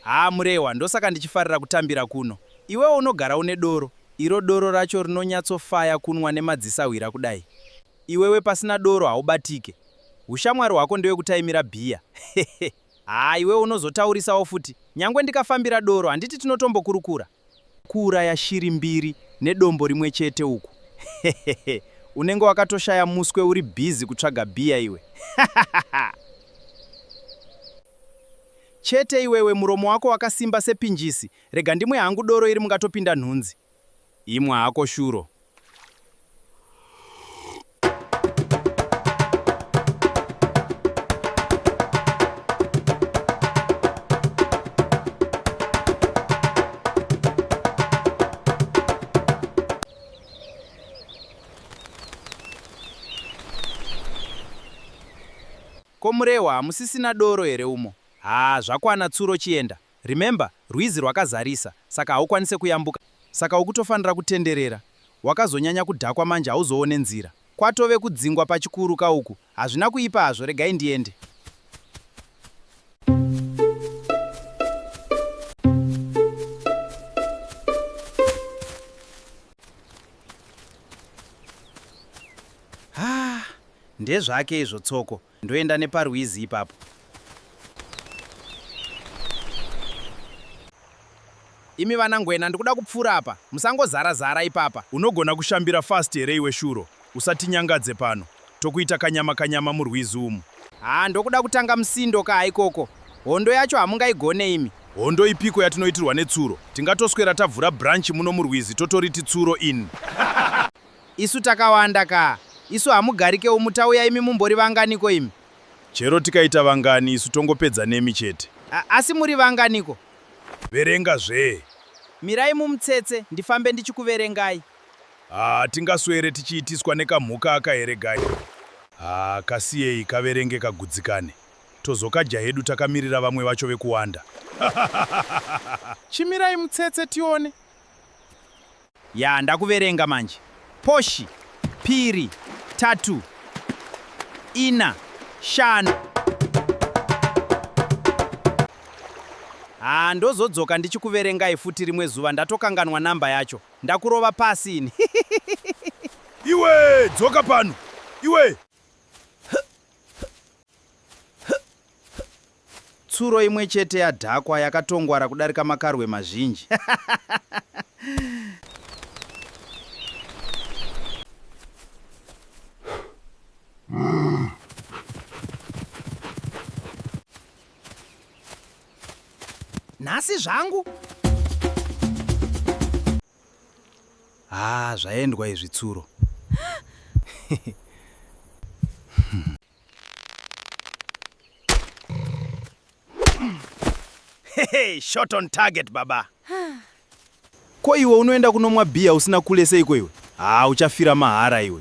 Haa Murehwa ndosaka ndichifarira kutambira kuno. Iwewo unogara une doro, iro doro racho rinonyatsofaya kunwa nemadzisahwira kudai. Iwewe pasina doro haubatike. Hushamwari hwako ndewekutaimira bhiya. Hehe. Haa iwewe unozotaurisawo futi. Nyangwe ndikafambira doro handiti tinotombokurukura. Kuuraya shiri mbiri nedombo rimwe chete uku hehehe unenge wakatoshaya muswe uri busy kutsvaga beer iwe hahahaa. Chete iwewe muromo wako wakasimba sepinjisi rega ndimwe hangu doro iri mungatopinda nhunzi. Imwa hako shuro Ko Murehwa hamusisina doro here umo? Haa zvakwana tsuro chienda. Remember rwizi rwakazarisa saka haukwanise kuyambuka saka ukutofanira kutenderera wakazonyanya kudhakwa manje hauzoone nzira kwatove kudzingwa pachikuru ka uku hazvina kuipa hazvo regai ndiende. Haa ndezvake izvo Tsoko Ndoenda neparwizi ipapo. Imi vana ngwena ndikuda kupfura apa. Musangozara zara ipapa. Unogona kushambira fast here iwe shuro. Usatinyangadze pano. Tokuita kanyama kanyama murwizi umu. Haa ndokuda kutanga musindo kaa ikoko. Hondo yacho hamungaigone imi. Hondo ipiko yatinoitirwa netsuro? Tingatoswera tavhura branch muno murwizi totoriti tsuro in. Isu takawanda kaa. Isu hamugarike umu tauya imi mumbori vanganiko imi? Chero tikaita vangani isu tongopedza nemi chete. A, asi muri vanganiko? Verenga zvee. Mirai mumutsetse ndifambe ndichikuverengai. Haa tingaswere tichiitiswa nekamhuka aka here guy. Haa kasiyei kaverenge kagudzikane. Tozokadya hedu takamirira vamwe vacho vekuwanda. Chimirai mutsetse tione. Yaa ndakuverenga manje. Poshi, piri, tatu, ina, shanu. Haa ndozodzoka ndichikuverengai futi rimwe zuva ndatokanganwa number yacho. Ndakurova pasi ini. Iwe dzoka pano. Iwe. Tsuro imwe chete yadhakwa yakatongwara kudarika makarwe mazhinji. Nhasi zvangu. Ah, zvaendwa izvi tsuro. Hey, shot on target baba. Ko iwe unoenda kunomwa bhiya usina kule seiko iwe? Haa uchafira mahara iwe.